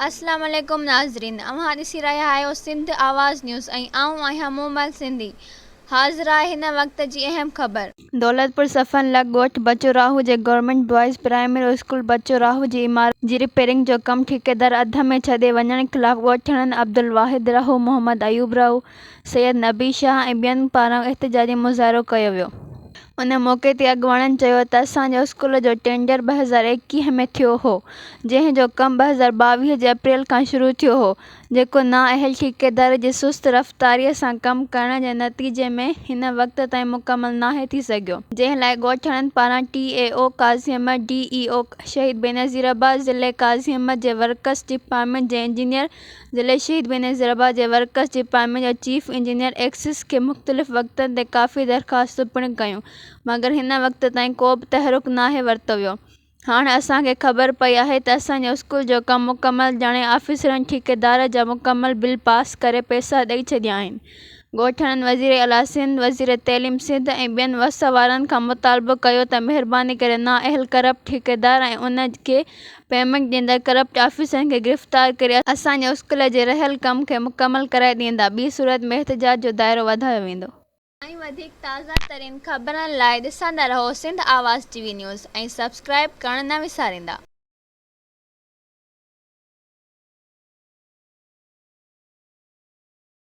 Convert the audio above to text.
السلام عليڪم ناظرين اوهان ڏسي رهيا آهيو سنڌ آواز نيوز ۽ آئون آهيان مومل سنڌي حاضر آهي هن وقت جي اهم خبر. دولتپور صفن لڳ ڳوٺ بچو راهو جي government boys primary school Bachu Rahu جي عمارت جي رپيرنگ جو ڪم ٺيڪيدار اڌ ۾ ڇڏي وڃڻ خلاف ڳوٺاڻن عبدالواحد راهو محمد ايوب راهو سيد نبي شاهه ۽ ٻين پاران احتجاجي مظاهرو ڪيو ويو. ان موقعي تي اڳواڻن چيو ته اسان جي اسڪول جو ٽينڊر ٻه هزار ايڪيهه ۾ ٿيو هو، جنهن جو ڪم ٻه هزار ٻاويهه جي اپريل کان شروع ٿيو هو، جيڪو نااهل ٺيڪيدار جي سست رفتاريء سان ڪم ڪرڻ جي نتيجي ۾ هن وقت تائين مڪمل ناهي ٿي سگهيو. جنهن لاء ڳوٺاڻن پاران ٽي اي او قاضي احمد، ڊي اي او شهيد بينظير عباس، ضلعي قاضي احمد جي ورڪس ڊپارٽمينٽ جي انجنيئر ضلعي شهيد بينظيرآباد جي ورڪس ڊپارٽمينٽ جي چيف انجنيئر ايڪسس کي مختلف وقتن تي ڪافي درخواستون پڻ ڪيون مگر هن وقت تائين ڪو به تحرڪ ناهي ورتو ويو هاڻ اسان کي خبر پئي آهي ته اسان جي اسڪول جو ڪم مڪمل ڄاڻي آفيسرن ٺيڪيدار جا مڪمل بل پاس ڪري پئسا ڏئي ڇڏيا آهن ڳوٺاڻن وزير اعليٰ سنڌ وزير تعليم سنڌ ۽ ٻين وس وارن کان مطالبو ڪيو ته مهرباني ڪري نااهل ڪرپٽ ٺيڪيدار ۽ انهن کي پيمنٽ ڏيندڙ ڪرپٽ آفيسرن کي گرفتار ڪري اسان جي اسڪول جي رهيل ڪم کي مڪمل ڪرائي ڏيندا ٻي صورت ۾ احتجاج جو دائرو وڌايو ويندو. ۽ وڌيڪ تازا ترين خبرن لاء ڏسندا رهو Sindh Awaz T V news ۽ subscribe ڪرڻ نه وساريندا.